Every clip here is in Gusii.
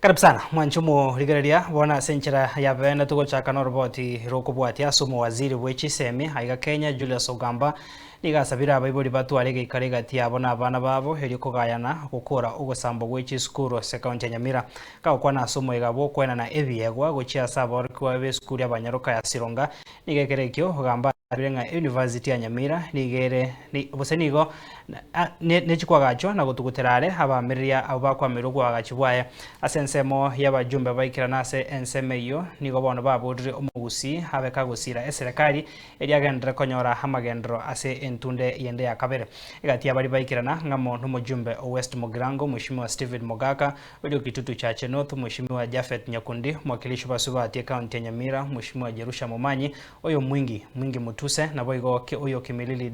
Karibu sana mwanche omorigereria bono ase enchera ya bene togochaka noroboti rokobwatia ase omowaziri bwe chisemi aiga Kenya Julius Ogamba nigo asabire abaibori batware egeikaro egati yabo na abana babo erio kogayana gokora ogosambwa gwe chisukuru ase county ya Nyamira kagokwana ase omoiga bw'okoenana ebiegwa gochia ase aborokigwa b'esukuru ya Banyaruka ya Sironga nigo ekero ekio Ogamba Nabarabire ng'a University ya Nyamira nigo ere, gose nigo nechi koagachwa na gotugutera are abaamereria abwo bakwamerwe oboagachi bwaye. Ase ensemo y'abajumbe baikerana ase ensemo eyio nigo bono baboorire omogusii abe kagosiira eserekari eria agenderere konyora amagenderero ase entunde yende ya kabere. Egatiia baria baikerana ng'amo nomojumbe o West Mugirango, Mweshimiwa Stephen Mogaka, oria o Kitutu Chache North, Mweshimiwa Japhet Nyakundi, Mwakilishi o Basubati Ekaunti ya Nyamira, Mweshimiwa Jerusha Momanyi, Oyo mwingi, mwingi mutuse, naboigo ke oyo kimilili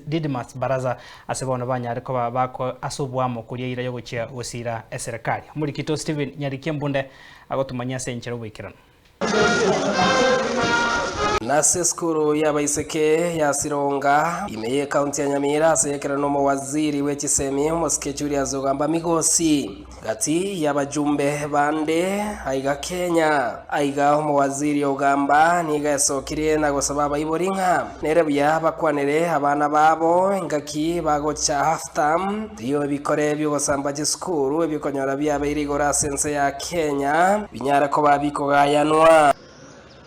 Didymus Baraza ase bono banyare koba bako ase obwamo koria eira yogochia gosiira eserekari. Omorikito Stephen Nyarikia Mbunde agotumanye ase enchera oboikeranu. Nase esukuru y'abaiseke ya Sironga, ime y'ecounty ya Nyamira ase ekerero n'omowaziri bwe chisemi, omosike Julius Ogamba Migosi. Gati y'abajumbe bande aiga Kenya, aiga omowaziri ogamba nigo esokirie na gosaba abaibori ng'a nere buya bakwanere abana babo engaki bagocha half term, erio ebikore bi'ogosamba chisukuru ebikonyora biabeire igoro ase ense ya Kenya binyare koba bikogayanwa.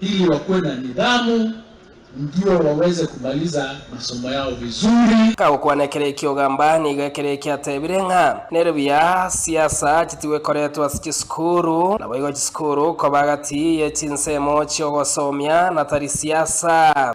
ili wakuwe na nidhamu ndio waweze kumaliza masomo yao vizuri. Agokwana ekero ekio ogamba nigo ekero ekio atebire ng'a nere buya siasa chitigwe koretwa ase chisukuru, naboigo chisukuru koba agati ye chinsemo chi'ogosomia natari siasa.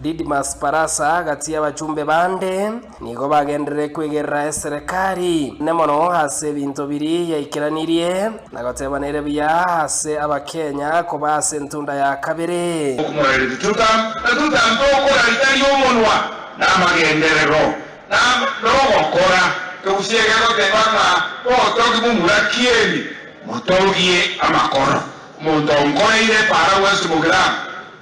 Didimus Barasa gati y'abachumbe bande nigo bagenderire kwegerera eserekari ene mono ase ebinto biri yaikeranirie na goteba nere buya ase Abakenya koba ase entunda ya kabere. Okomorania tichoka na totambe okora ritari omonwa na amagenderero na nogokora egusii egegoteba ng'a botogi bw'omuraki eri motogie amakoro omonto onkoreire para gwensi mogramu.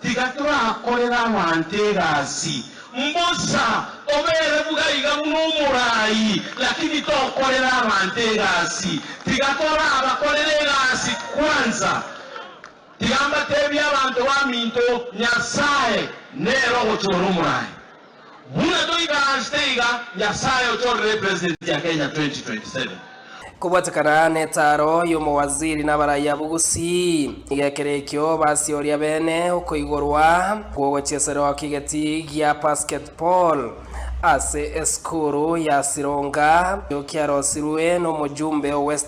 Tiga torakorere abanto egasi mbosa, obere buna iga buna omorai, lakini tokorere abanto egasi. Tiga torabakorere egasi kwanza. Tiga mbatebie abanto baminto, Nyasae nere ogochora omorai. Buna toikararste iga, Nyasaye ochorere President ya Kenya 2027. Kobwatekana n'etaaro y'omowaziri n'abarai abwo gusii, iga ekero ekio basieoria bene okoigorwa gw'ogochiesera oo kigeti gia basketball ase esukuru ya Sironga, ekiarosirwe n'omojumbe o Western.